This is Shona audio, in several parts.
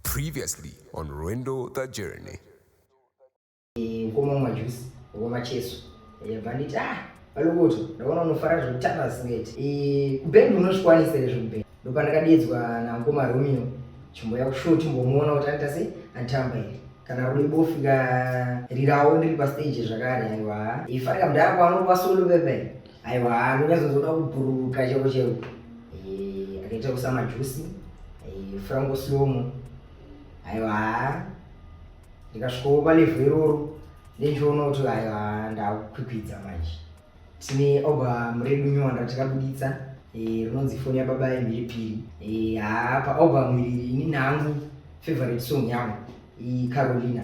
Previously on Rwendo the Journey. Mkoma mwa juice ngoma cheso yabva nditi ah valokuti ndaona unofara zvekutamba zingeti kubhendi unosvikwanisa here zvekubhendi ndopandakadedzwa namkoma romeo chimboya kushow timbomuona kuti anoita sei antamba here kana ruri bofu ka rirawo ndiri pastage zvakare aiwa ifarika mdhara kwanopa solo pepe aiwa anonyazozoda kubhururuka chero chero eh, akaita kusa majusi eh, frango slomo aiwa ndikasvikowo palevhu iroro ndendiona kuti aiwa ndakukwikwidza manje tine oba muredu nyuwa ndatikabuditsa eh, rinonzi foni yababa yemhiripiri haa paoba mwiriri ini nangu favorite song yangu icarolina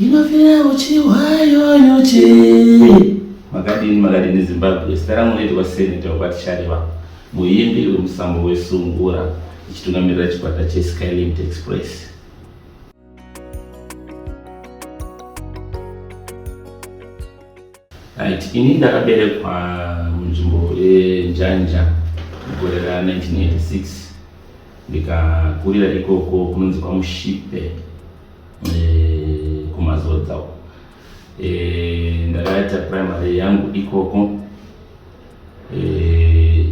inofira uchiwayo nyuchi makadini makadini zimbabwe zita rangu noitwa seneta wekwatichareva muimbi wemusambo wesungura ichitungamirira chikwata cheskylimt express Right. Ini ndakaberekwa munzvimbo yeNjanja mugore ra 1986 ndikakurira ikoko kunonzi kwaMushipe eh, kumazodza uko eh, ndakaita primary yangu ikoko eh,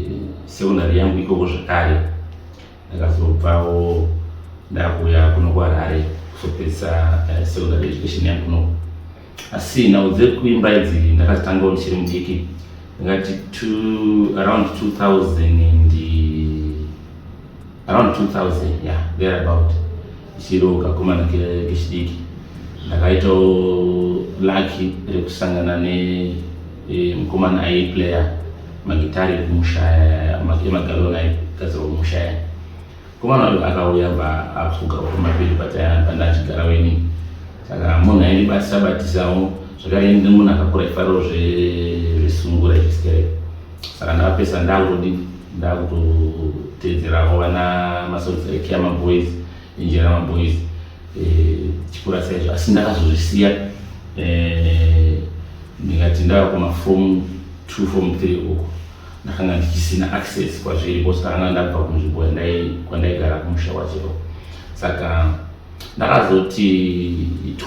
secondary yangu ikoko zvakare ndakazobvawo ndakuya kuno kuharare kuzopedzisa eh, secondary education yangu kuno asi nhau dzekuimba idzi ndakazitangawo ndichiri mudiki ndingati around 2000 and around 2000 yeah there about Chiro kakomana kechidiki ndakaitawo laki rekusangana nemukomana e, aiplayer magitari ekumushaya emagaloni aigadzirwa kumushaya komana wacho akauya bva afuga kumapiri pandachigara weni saka munhu aindibatisa batisawo zvakare munhu akakura ifariro zvesungura chistereko saka ndakapesa ndakutodii ndakutoteedzerawo vana masongs ekea maboys injera maboys eh, chikura saizvo asi ndakazozvisiya eh, ndikati ndava kumafom two fom three uko ndakanga ndichisina access kwazviri bcause ndakanga ndabva kunzvimbo kwandaigara kumusha kwachero saka ndakazoti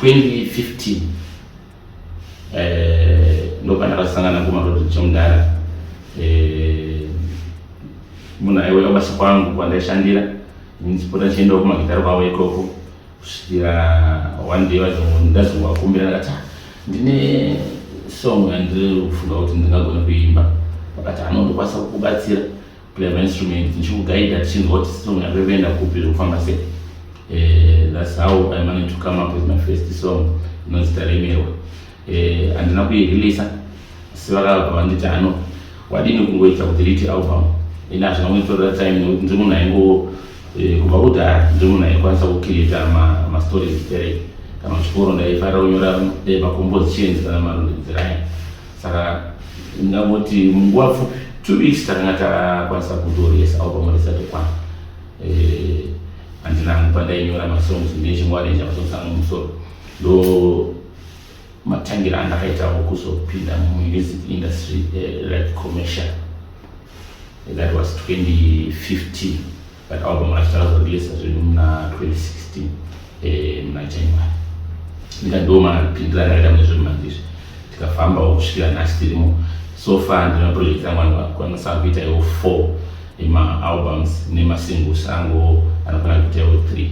2015 eh, ndopana vasangana kumarodi chomdara eh, munhu aiuya kubasa kwangu kwandaishandira ndipota ndichiendawo kumagitari kwavo ikoko kusvikira one day ndazongovakumbira ndakati ah, ndine song yandiri kufunga kuti ndingagona kuimba vakati anondokwanisa kukubatsira play my instrument ndichikuguida tichinzwa kuti song yako ikuenda kupi zvekufamba sei eh, thats how i managed to come up with my first song inonzi taremerwa eh, handina kuireleasa asi vakabva vanditi ano wadini kungoita kudiriti album ini hazvina kunditorera time nekuti ndiri munhu aingo eh, kubva kudhara ndiri munhu aikwanisa kucreata mastories iterei kana chikoro ndaifarira kunyora macompose chins kana marondedzeraya saka ndingangoti munguva pfupi two weeks takanga takwanisa kutoresa album risati kwana eh, handina hangu pandainyora masongs ndinechingoarenja masongs angu musoro ndo matangira andakaitawo kuzopinda mumusic industry eh, like commercial that was 2015 But album racho takazoreleasa zvedu muna 2016 eh, muna January. Ndikandoomanapindira ndakaita mune zvekumanje izvi tikafambawo kusvikira nhasi tirimo so far ndina project yangu anokwanisa kuita iwo four emaalbums nemasingles angu anokwanisa kuita iwo three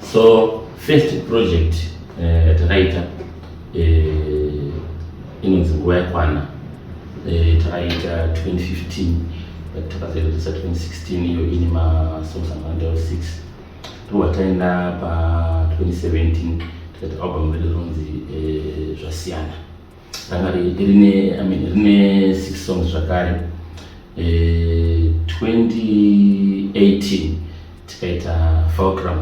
So first project eh, yatakaita uh, uh, inonzi nguva yakwana uh, takaita 2015 but takazoiratisa 2016 iyo ine masongs amawanda 6 ndowataenda pa 2017 tikaita album redu ronzi uh, zvasiyana ranga rine i mean rine six songs zvakare eh, 2018 tikaita fulcrum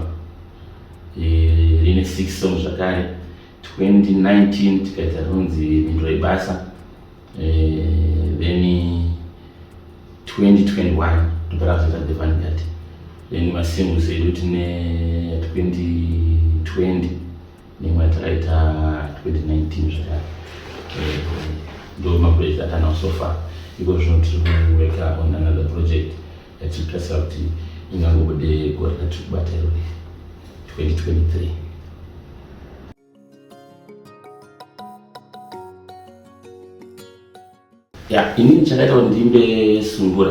eh, rine six songs zvakare 2019 tikaita rinonzi mhinduro yebasa eh, then 2021 ndopera kuzoita the vanguard then masingles edu tine 2020 nemwe yatakaita 2019 zvakare eh, ndo maproject atanawo so far iko zvino tiri kuweka on another project yatiri kutarisa kuti ingangobude gore ratiri kubata iro 2023 ya inini chakaita kuti ndimbe sungura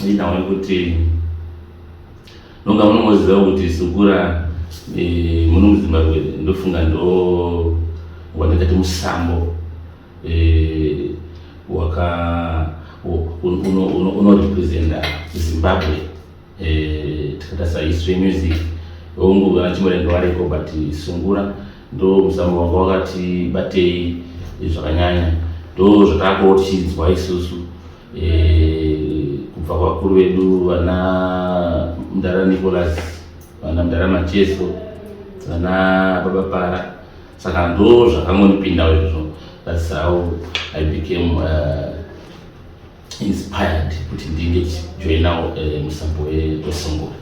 ndinaona kuti nonga munomoziva kuti sungura e, muno muzimbabwe ndofunga ndo wandingati musambo e, waka unorepresenta zimbabwe tikatarisa history yemusic hongu vana chimurendo variko but sungura ndo musambo wanga wakati batei zvakanyanya ndo zvataakuwo tichinzwa isusu eh, kubva kwavakuru vedu vana mdara nicolas vana mdara macheso vana baba para saka ndo zvakangonipindawo izvozvo that's how i became uh, inspired kuti ndinge ndichijoinawo uh, eh, musambo wesongora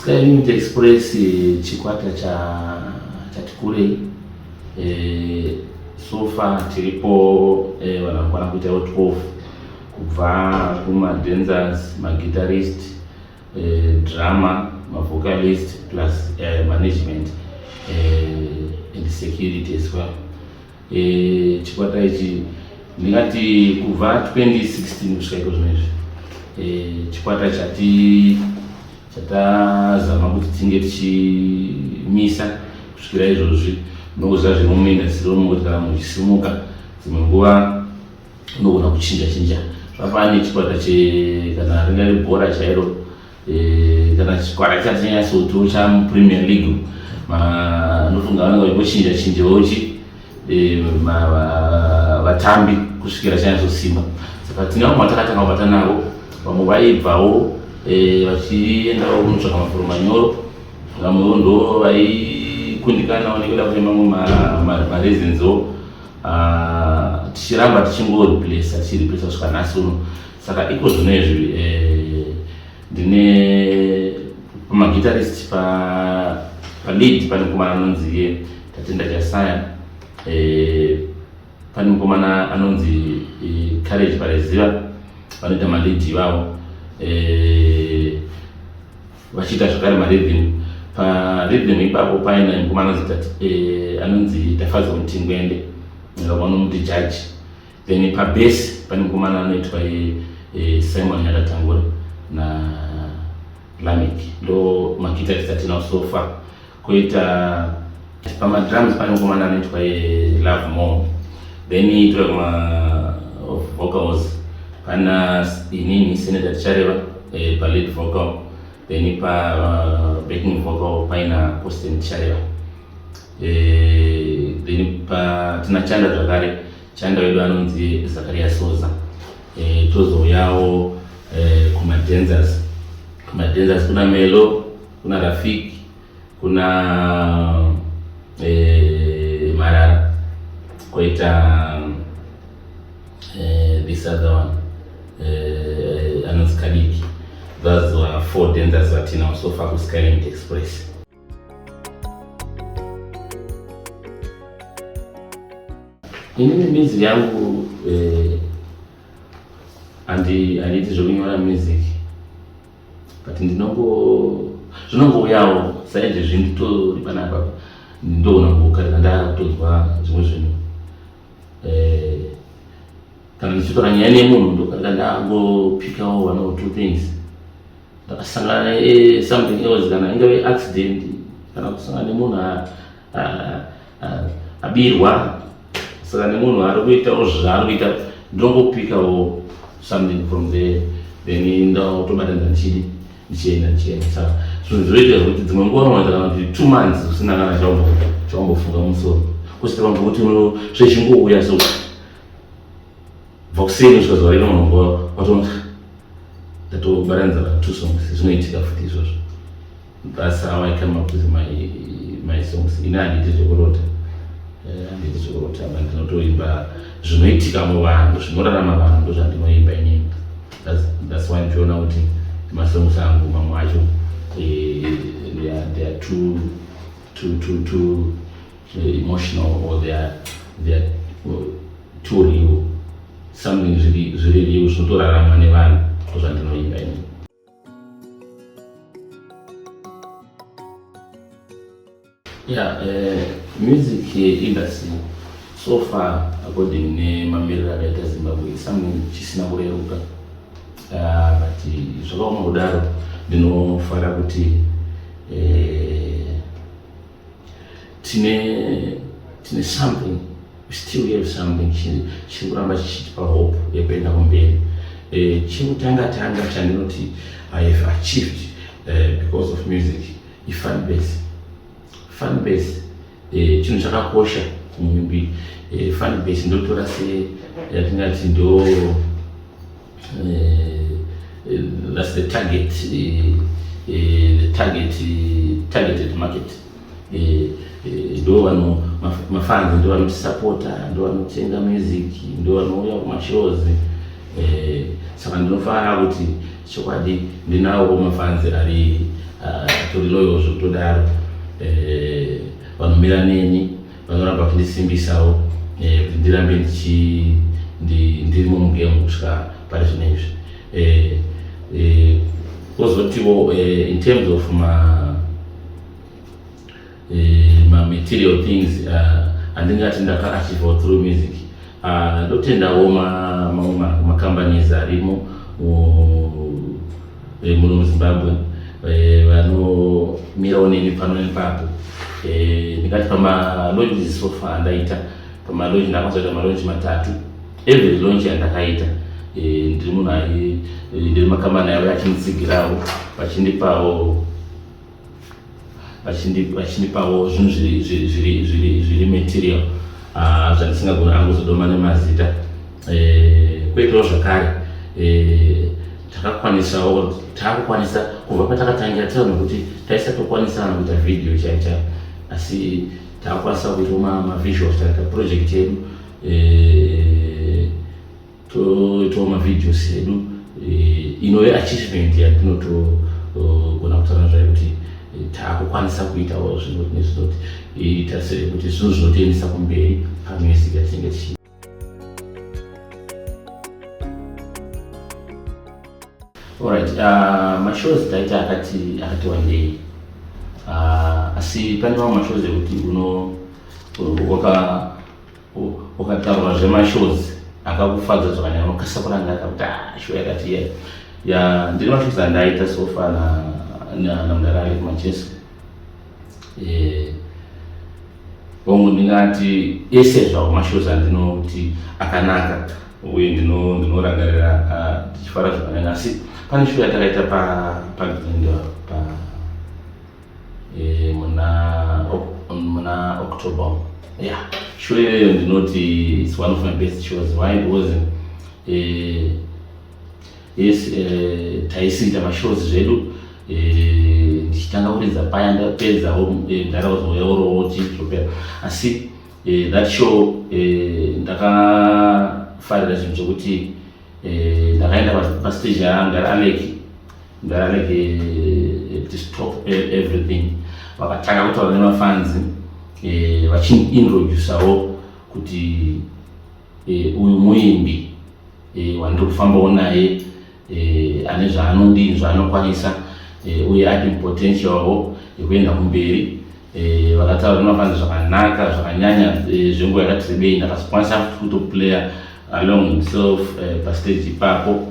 Skylight Express eh, chikwata chati kurei eh, so far tiripo eh, vanhu vanokwana kuitawo 12 kubva kumadenzers maguitarist eh, drama mavocalist plus eh, management eh, and security as well eh, chikwata ichi ndingati kubva 2016 kusvika iko zvino izvi eh, chikwata chati chatazama kuti tinge tichimisa kusvikira izvozvi nokuziva zviri muminda dziri mukuti kana muchisimuka dzimwe nguva unogona kuchinja chinja vafana nechikwata che kana ringari bhora chairo eh, kana chikwata chacho nyanyasoti chamupremier league anofunga vanenge vachingochinja chinja vochi eh, vatambi kusvikira chanyazosimba saka tine vamwe vatakatanga kubata navo vamwe vaibvawo eh, vachiendawo kunotsvaka mafuro manyoro vamwewo ndo vaikundikana vanenge vada kune mamwe mareasonso Ah, tichiramba tichingoreplesa tichireplesa kusvika nhasi uno saka iko zvino izvi eh, ndine pamagitarist palead pane mukomana anonzi ye tatenda chasaya eh, pane mukomana anonzi eh, courage pareziva vanoita malead ivavo vachiita zvakare marevenue parevenue ipapo paina mukomana zitati eh, anonzi tafadzwa mutingwende vanomuti jaji then pabase pane mukomana anoitwa eh, eh, simon nyakatangura na lamek ndo makita tisati nawo sofa koita pamadrums pane mukomana anoitwa love more then itwe ma vocals pana inini senator tichareva eh, pa lead vocal then pa uh, backing vocal paina austin tichareva eh, then pa tina chanda zvakare chanda wedu anonzi zakaria soza eh, tozouyawo eh, kumadenzers kumadenzers kuna melo kuna Rafiki, kuna eh, Marara, koita eh, this other one eh, anonzi Kadiki. Those were four dancers vatinawo so far kuSkyland Express. Inini music yangu eh, handi handiiti zvekunyora music but ndinongo zvinongouyawo saizvezvi nditori panapa ndoona kukarira ndakutonzwa zvimwe zvinhu eh, kana ndichitora nyaya nemunhu ndokarira ndangopikawo one or two things ndakasangana eh, something else kana ingave accident kana kusangana nemunhu abirwa saka nemunhu ari kuitawo zvaari kuita ndongopikawo something from there then ndakutobatanidza ndichidi ndichienda ndichienda saka zvinhu zvoita zvekuti dzimwe nguva unoita kana kuti two months usina kana chaumbofunga musoro kusvika vanhu vokuti zvechingouya so vakuseni kusvika zuva rino vanhu vatoona ndatobatanidza kana two songs zvinoitika futi izvozvo That's how I came up with my my songs. Ini handiti zvekurota, eh, handiti zvekurota, but ndinotoimba zvinoitika muvanhu, zvinorarama vanhu, ndozvandinoimba inini. That's that's why ndichiona kuti masongs angu mamwe acho eh, they are they are too too too too eh, emotional or they are they are uh, too real. Something zviri zviri real zvinotorarama nevanhu, ndozvandinoimba inini. Yeah, uh, music industry so far according nemamiriro akaita Zimbabwe something chisina kureruka uh, but zvakaoma kudaro ndinofara kuti uh, tine tine something still have something chiri kuramba chichitipa hope yekuenda kumberi eh, chekutanga tanga chandinoti i have achieved eh, because of music ifan base fan base eh, chinhu chakakosha munyumbi fan base ndotora se yatingati ndo Uh, that's the target, uh, uh, the target, uh, targeted market. ndo vano mafanzi ndo vanotisapota ndo vanotenga music ndo vanouya kumashows saka ndinofara kuti chokwadi ndinawo mafanzi ari atori loyozvo todaro vanomira neni vanoramba vachindisimbisawo eh, kuti ndirambe ndiri mumugemu kusvika pari zvino izvi eh, eh, kozotiwo in terms of ma material things andingati ndakaachiva through music ndotendawo mamwe macompanies arimo vemuno muzimbabwe eh, vanomirawo neni pano nepapo eh, ndingati pamalonji sofa andaita pamalonji ndakazoita malonji matatu every lonji yandakaita eh, ndiri munhu ndiri makamani avo achinitsigirawo vachindipawo vachindipawo zvinhu zviri material ah, zvandisingagona hangu zodoma nemazita eh, kweitawo zvakare eh, takakwanisawo takukwanisa kubva patakatangira tava nokuti taisatokwanisana kuita vhidhiyo chaicha asi takakwanisa kuitawo mavisuals taita project yedu eh, toitawo mavideos edu eh, inove achievement yatinotogona oh, kutaura zvayo kuti eh, taakukwanisa kuitawo zvinoti nezvinoti eh, tarisire kuti zvinhu zvinotoendesa kumberi pamwesi yatinenge tichi Alright, uh, mashows taita akati akati wandei uh, asi pane mamwe mashows ekuti uno waka ukataura zvemashows akakufadza zvakanyanya unokasa kurangarira kuti ah, show yakati iya ya ndiri mashows andaita sofa namudara ali kumachese eh, hongu ndingati ese zvawo mashows andinoti akanaka uye ndinorangarira ah, ndichifara zvakanyanya asi pane show yatakaita pagrindo pa e, muna muna october yeah show iyoyo ndinoti its one of my best shows why because e, yes e, taisiita mashows zvedu ndichitanga kuridza paya ndapedzawo ndakazouya orowo chizopera asi that show ndakafarira zvinhu zvokuti ndakaenda pastage yaanga aleki ndarege eh, tistop eh, everything vakatanga kutaura nemafanzi eh, vachindiintrodusawo kuti uyu muimbi wandiri kufambawo naye ane zvaanodii zvaanokwanisa uye ati potentialwo yekuenda kumberi vakataura nemafanzi zvakanaka zvakanyanya zvenguva yakati rebei ndakazokwanisa futi kutoplayer along himself pastage ipapo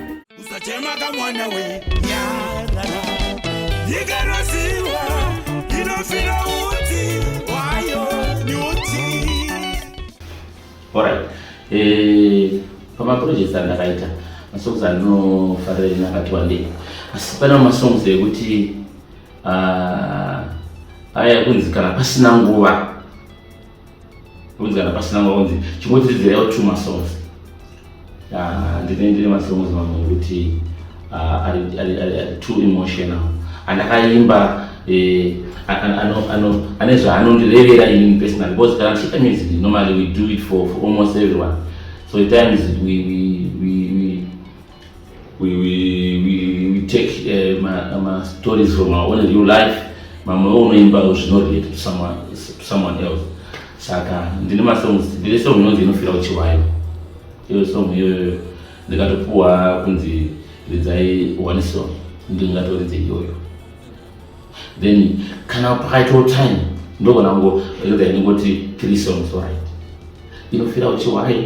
Usachemaka mwana we nyarara Yikaroziwa inofira uti wayo nyuti Alright eh pamaprojects andakaita masongs anofarira nakati wandei asi pana masongs ekuti uh, ah, aya kunzi kana pasina nguva Kunzi kana pasina maunzi chingodzidzira yo two masongs. Ah, ndine ndine masongs mamwe ekuti ah, ari ari ari ari too emotional. Andakaimba eh ano ano ano ane zvaanondirevera ini personally because kana tichiita music normally we do it for, for almost everyone. So at times we we we, we we, we, we, we take uh, ma, ma stories from our own real life mamwe unoimbawo zvinorelate to someone, to someone else saka ndine masongs ndine song inonzi inofira uchiwayo iyo song iyoyo ndikatopuwa kunzi ridzai one song ndingatoridze iyoyo then kana pakaitawo time ndogona ngo ridza inongoti three songs orit inofira uchiwayo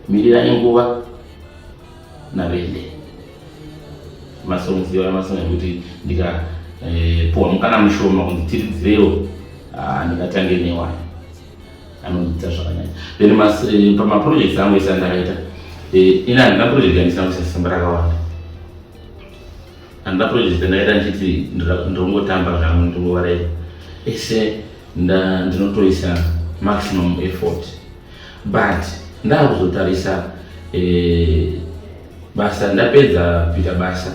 Mirirai nguva navende masongs iwaya masong ekuti ndikapuhwa eh, mukana mushoma kunzi tiridzirewo ah, ndingatange newaya anondiita zvakanyanya then eh, pamaprojects angu ese andakaita eh, ini handina project yandisina kuisa simba rakawanda handina project yandaita ndichiti ndongotamba zvangu ndingovareva ese ndinotoisa maximum effort but ndakuzotarisa eh, basa ndapedza kuita basa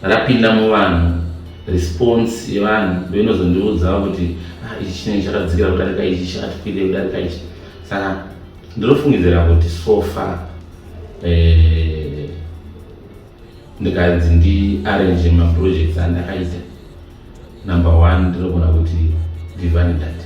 rapinda muvanhu response yevanhu ndoinozondiudzawo kuti ah, ichi chinenge chakadzikira kudarika ichi chakatikwirei kudarika ichi saka ndinofungidzira kuti sofa eh, ndikanzi ndiarrange maprojects andakaita number one ndinogona kuti divine dati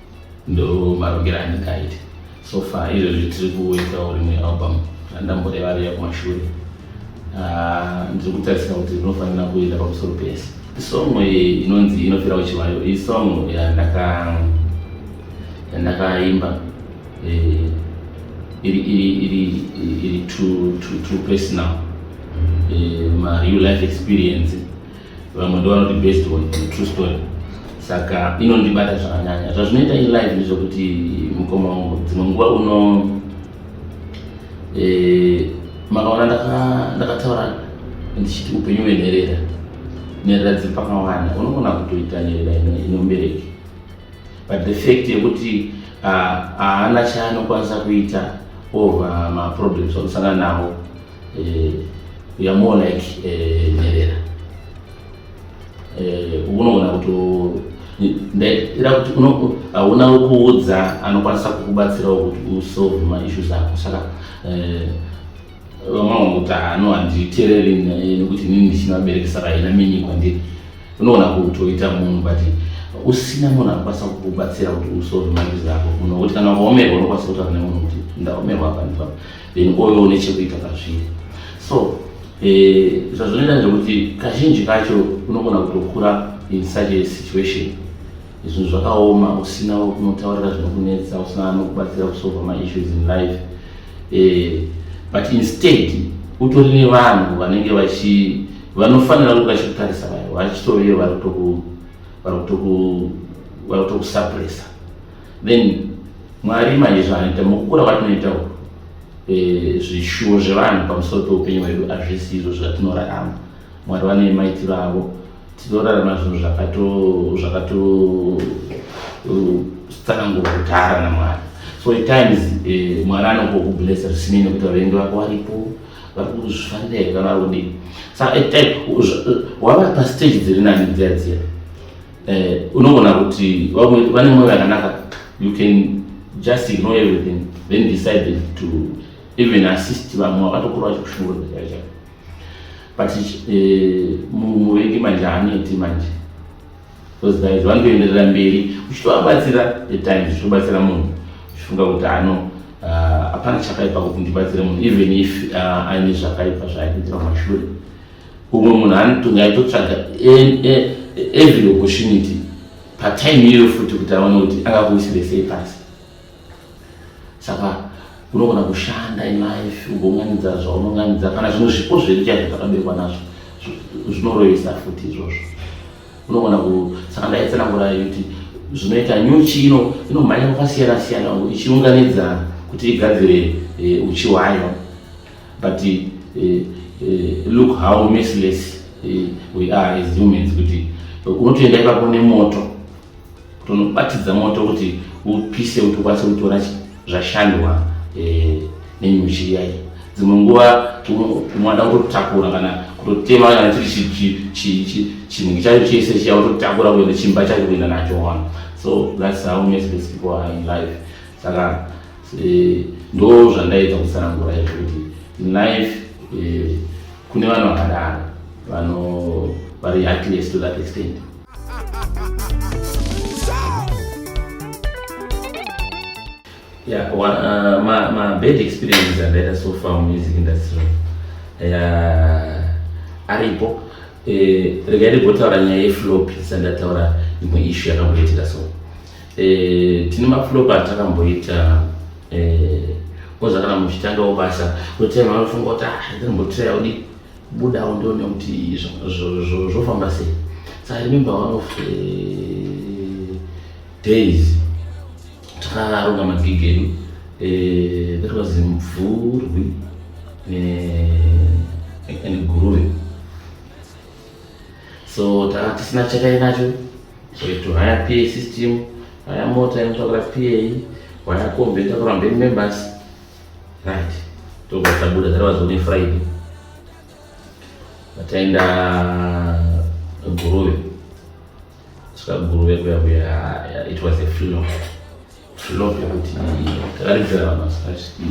ndo marongero andingaite so far izvozvi tiri kuitawo rimwe album randamboreva riya kumashure ah, ndiri kutarisira kuti rinofanira kuenda pamusoro pese song inonzi inofira kuchivayo iyi song yandakaimba eh, iri too personal eh, mareal life experience vamwe ndovanoti based on true story saka inondibata zvakanyanya zvazvinoita iri live ndezvekuti mukoma wangu dzimwe nguva uno eh, makaona ndakataura ndichiti upenyu hwenherera nherera dziri pakawanda unogona kutoita nherera inomubereki but the fact yekuti ah, haana chaanokwanisa kuita over maproblems akusangana nawo eh, we are more like eh, nherera eh, unogona kuti ndaitira kuti hauna kuudza anokwanisa kukubatsirawo kuti usolve maissues ako saka eh, vamwe kuti hano handitereri nekuti nini ndichinovaberekesa vaina mini kwandiri unogona kutoita munhu but usina munhu anokwanisa kukubatsira kuti usolve maissues ako munhu wekuti kana ukaomerwa unokwanisa kutaura nemunhu kuti ndaomerwa apa ndipapa then kwove une chekuita pazviri so eh, zvazvinoita ndekuti kazhinji kacho unogona kutokura in such a situation zvinhu zvakaoma usina kunotaurira zvinokunetsa usina anokubatsira kusolva maissues in life eh, but instead utori nevanhu vanenge vachi vanofanira kuti vachikutarisa vayo vachitoveyo vari kutoku vari kutoku vari kutokusuppressa then mwari manje zvanoita mukukura kwatinoita uku eh, zvishuwo zvevanhu pamusoro peupenyu hwedu hazvisi izvo zvatinorarama mwari vane maitiro avo tinorarama zvinhu zvakatotsanangura uh, kudhara namwari so at times eh, mwari anokokublessa zvisinei nekuti vavengi vako varipo vari kuzvifanira here kana vari kudii saka at time wava pastage dziri nani dziya dziya eh, unogona kuti vamwe vane mwoyo yakanaka you can just ignore everything then decided to even assist vamwe vakatokura vachikushungurudza chaivo chaivo but eh, muvengi manje haanoiti manje those guys vanotoenderera mberi uchitovabatsira the times zvichibatsira munhu uchifunga kuti ano ah, hapana uh, chakaipa kuti ndibatsire munhu even if uh, aine zvakaipa zvaaiitira mashure umwe munhu anotonga aitotsvaga e, e, every opportunity patime iyoyo futi kuti aone kuti akakuisire sei pasi saka unogona kushanda ilife ugounganidza zvaunonganidza kana zvimwe zvipo zvedu chaizvo zvakaberwa nazvo zvinoroyesa futi izvozvo unogona ku saka ndaitsanangura kuti zvinoita nyuchi ino inomhanya kwakasiyana siyana ichiunganidza kuti igadzire eh, uchi hwayo but uh, uh, look how merciless uh, we are as humans kuti unotoenda ipapo nemoto kuti unobatidza moto kuti upise kuti ukwanise kutora zvashandwa uh, nenyuchi yayi dzimwe nguva unoda kutotakura kana kutotema kana chiri chinhu chacho chese chiya utotakura kuenda chimba chacho kuenda nacho one so that's how merciless people are in life saka Eh, ndo zvandaita kutsanangura izvo kuti life eh, kune vanhu vakadaro vano vari heartless to that extent yeah, one, uh, my, my bad experiences andaita so far music industry yeah, aripo eh, regai ndigotaura nyaya yeflopi sandataura imwe ishu yakamboitika so Eh, tine maflopa atakamboita eh, koza kana muchitangawo basa kutai vanofunga kuti ah, ndinombotira udi budawo ndione kuti zvofamba sei so i remember one of eh, days takaronga magigi edu that was mvurwi and guruve so tanga tisina chatainacho to haya pa system haya mota inotakura pa haya kombi inotakura mberi members right tobva tabuda dzaravazoone friday vataenda guruve saka guruve kuya kuya it was a flop flop yekuti takaridzira vanhu vasingasviki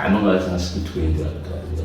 anonga asingasviki 20 akataria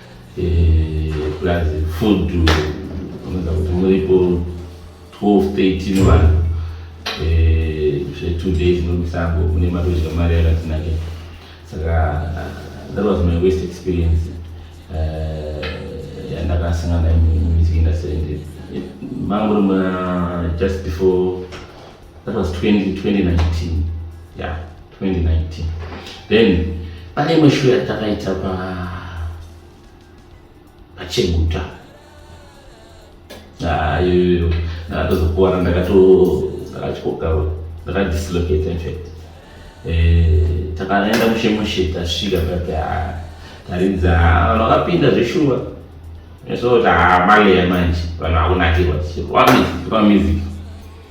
eh, plus food unoda kuti muripo 12 13 vanhu eh, zve2 days nomusango kune matozha mari yakatinake saka that was my west experience eh, yandakasangana nayo mumusiki industry mangori just before that was 20, 2019 yeah 2019 then pane imwe show yatakaita pa pacheguta ah, iyoyo ndakatozokuwara ndakato ndakatyokawe ndakadislocate infact eh, takaenda mushemushe tasvika pati ah, taridza ah, vakapinda zveshuwa so kuti maleya manje vanhu vakunakirwa vamiziki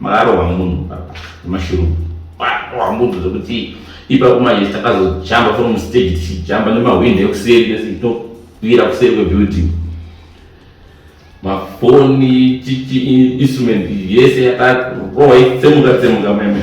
Mararo wamunhu baba nemashurungu. Mararo wamunhu zvekuti ipa kumanje takazojamba from stage tichijamba nemahwindo ekuseri pese towira kuseri kwebuilding. Mafoni chichi instrument yese yakarohwa itsemuka tsemuka meme.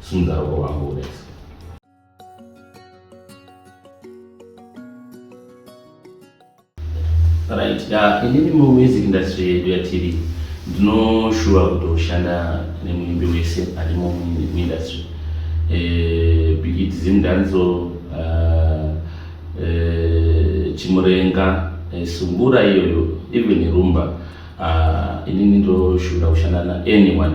Sunza roko wangu ureso. Right, yeah, inini mu music industry yedu yatiri ndinoshuva kutoshanda nemuimbi wese ari mu industry eh, bigit zindanzo uh, ah, uh, eh, chimurenga uh, eh, sumbura iyoyo even rumba uh, inini ndoshuvira kushanda na anyone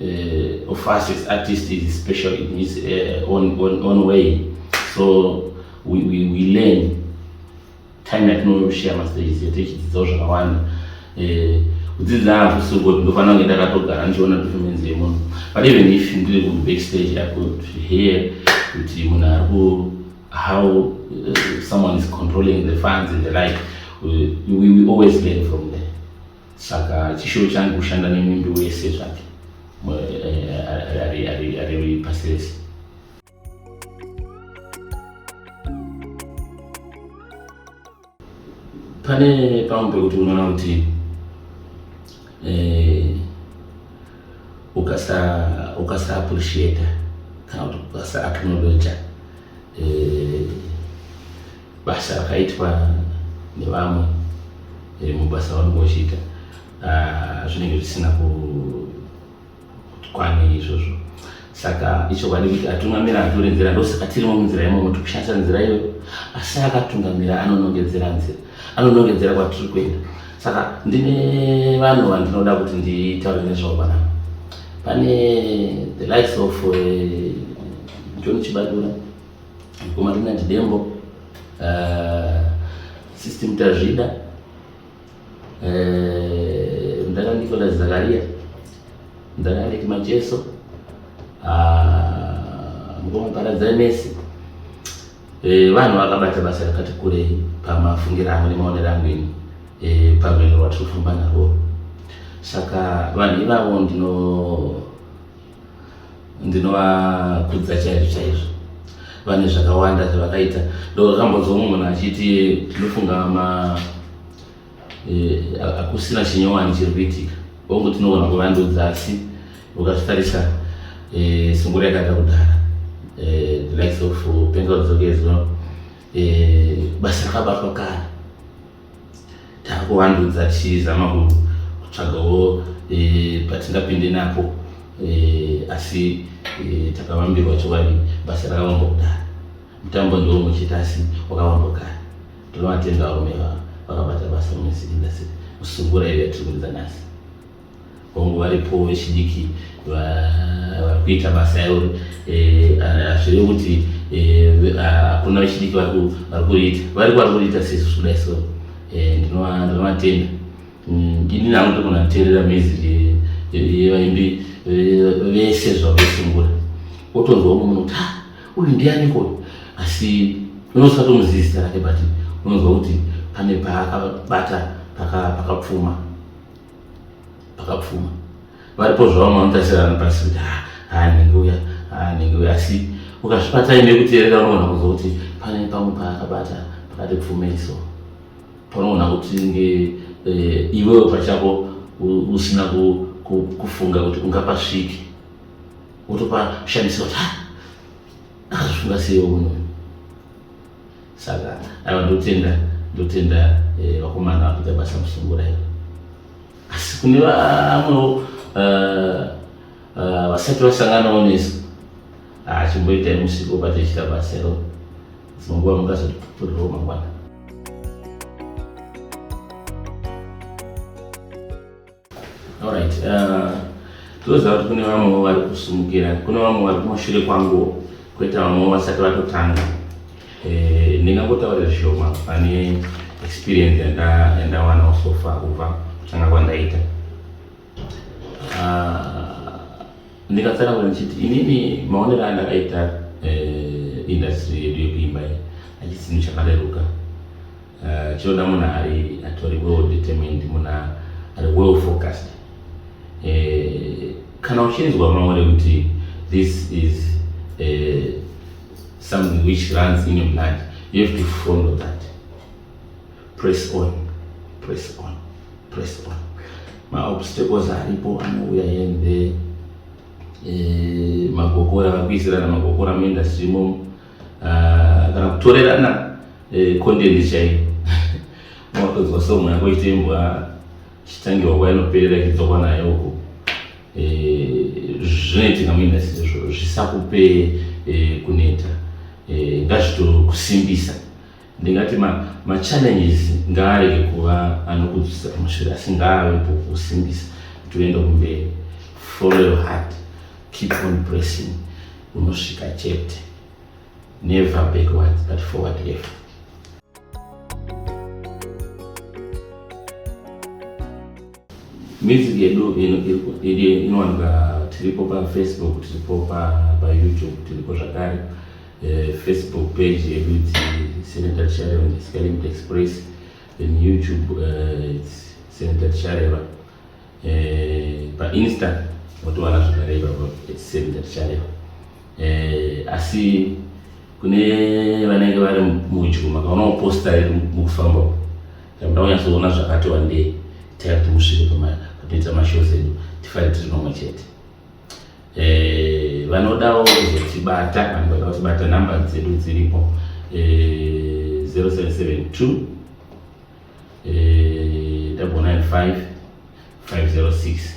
Uh, of us as artists is special in his uh, own, own, own way. So we, we, we learn time yatinoshare mastages yatichidzidzao zvakawanda eh, kudzidza hakusi kuti ndofanira kunge ndakatogara ndichiona performance yemunhu but even if ndiri kubackstage i could hear kuti munhu ari ku how uh, someone is controlling the funds and the like we, we, we always learn from there saka chishuwo changu kushanda nemumbi wese zvake eh, ari pasi rese pane pamwe pekuti unoona kuti eh, ukasa appreciata kana kuti ukasa acknowledger eh, basa rakaitwa nevamwe eh, mubasa vanenge vachiita ah, zvinenge zvisina kukwana izvozvo saka ichokwadi kuti atungamira atore nzira ndosaka tirimo munzira imomo tikushandisa nzira iyoyo asi akatungamira anonongedzera nzira anonongedzera kwatiri kuenda saka ndine vanhu vandinoda kuti nditaure nezvavo panapa pane the likes of uh, john chibadura mukoma Rinati Dembo, uh, Sister Mtazvida, uh, Mdara Nicholas Zakaria, Mdara Alec Macheso, uh, mukoma Paradzai Messi Eh, vanhu vakabata basa rakati kurei pamafungiro angu nemaonero angu ini eh, pamheno rwatiri kufamba narwo saka vanhu ivavo ndino ndinovakudza chaizvo chaizvo vane zvakawanda zvavakaita ndokakambozomwe munhu achiti tinofunga ma eh, hakusina e, chinyowani chiri kuitika vongu tinogona kuvandudza asi ukazvitarisa e, eh, sungura yakaita kudhara e, eh, the likes of pengaudzokezwa e, basa rakabatwa kare takuvandudza tichizama kutsvagawo eh, patingapinde napo eh, asi eh, takavambirwa chokwadi basa rakavamba kudaro mutambo ndiwo muchita asi wakavamba kare tinovatenda varume vakabata basa mumusiki ndasi musungura iyo yatiri kuridza nhasi hongu varipo vechidiki vari kuita basa yavo eh, hazviri kuti eh, hakuna vechidiki vari kuriita vari vari kuriita sesu kudai so eh, ndinovatenda mm, ini nangu ndogona kuteerera music yevaimbi vese zvavesungura wotonzwa umwe munhu kuti ah, uyu ndiani koyo asi unosatomuzivi zita rake but unonzwa kuti pane paakabata pakapfuma paka pakapfuma varipo zvavo manotarisirana pasi kuti ah, ah, nhingi uya ah, nhingi uya asi ukazvibata ine kuteerera unoona kuzo kuti pane pamwe paakabata pakati pfumeiso panoona kuti nge eh, iwewe pachako usina kufunga kuti ungapasviki wotopashandisa kuti akazvifunga seiwe unoyo saka aiwa ndotenda ndotenda eh, vakomana vakuita basa musungura iro asi kune vamwewo eh, eh, vasati vasanganawo nesu ah, chimboitai musiko patechita basa iro dzimwe nguva mungazotipupurirwo mangwana Alright, uh, toziva kuti kune vamwewo vari kusimukira, kune vamwe vari kumashure kwanguwo, kwete vamwewo vasati vatotanga. Eh, ndingangotaura zvishoma pane experience yandawanawo so far kubva kutanga kwandaita. Uh, ndikatsanangura ndichiti inini maonero andakaita eh, industry yedu yekuimba iyi achisi chinhu chakareruka eh, chinoda munhu ari atori well determined munhu ari well focused eh, kana uchinzwa maore kuti this is something which runs in your blood you have to follow that Press on, press on, press on. Ma obstacles aripo anouya yende eh, magokora vakuisirana magokora muindustry imomo uh, ah, kana kutorerana eh, content chaiyo mwakatodzwa so mwana koite imbwa chitangirwa kwainoperera ichidzokwa nayo uko eh, zvinoitika muindustry izvo zvisakupe eh, kuneta eh, ngazvitokusimbisa ndingati machallenges ma ngaarege kuva anokudzisa kumashure asi ngaavepo kusimbisa kuti uende kumberi follow your heart keep on pressing unosvika chete never backwards but forward ever Music yedu inowanika tiripo pafacebook tiripo payoutube tiripo zvakare eh, facebook page yedu iti senator tishareva ndisikalimit express then youtube eh, its senator tishareva eh, painsta motowana zvakare ipapo its senator tishareva asi kune vanenge vari mudyo makaona kuposta iri mukufamba Takuda kunyatsoona zvakati wandei taya kuti musvike panoita mashows edu tifare tiri nomwe chete eh, vanodawo kuzotibata vanhu vanoda kutibata number dzedu dziripo 0772 eh, 506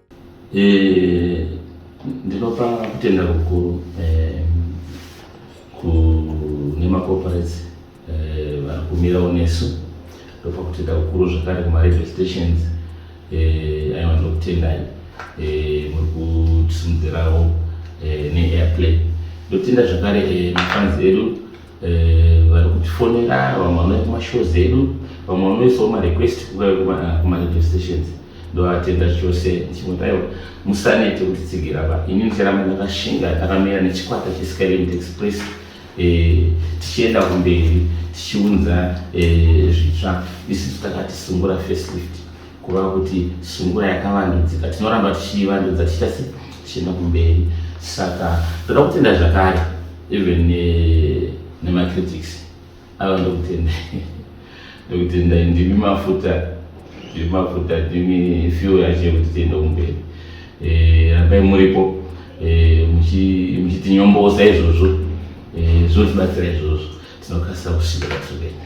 Eh, ndinopa kutenda kukuru eh, kune macorporates eh, vari kumirawo nesu ndopa kutenda kukuru zvakare kumaradio stations aiwa ndokutendai muri kutisimudzirawo neairplay ndokutenda zvakare mafanzi edu Eh, vari kutifonera vamwe vanouya kumashows edu vamwe vanoisawo marequest kumaradio stations ndovatenda chose chimwe taiwa musanete kuti tsigira pa ini ndicharamba ndakashinga ndakamira nechikwata cheskyland express eh, tichienda kumberi tichiunza eh, zvitsva isu takati sungura facelift kuva kuti sungura yakavandudzika tinoramba tichiivandudza tichasi tichienda kumberi saka toda kutenda zvakare even eh, nemacritics ava ndokutenda ndokutenda ndimi mafuta ndimi mafuta ndimi fuel yacho yekuti tiende kumberi eh, rambai muripo eh, muchitinyombosa izvozvo zvotibatsira izvozvo tinokasira kusvika patiri kuenda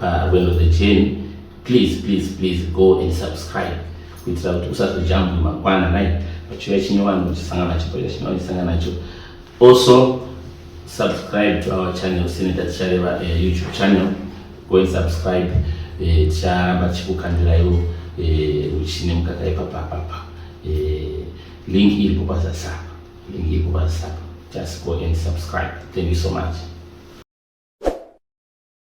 parwendo rwejeni please please please go and subscribe kuitira kuti usazojambwe makwana nai pachiuya chinyowani uchisangana nacho pachiuya chinyowani uchisangana nacho also subscribe to our channel sine tatichareva uh, eh, youtube channel go and subscribe eh, ticharamba uh, tichikukandiraiwo uh, eh, uchine mukaka ipapapapa uh, link iripo pazasapa link iripo pazasapa just go and subscribe thank you so much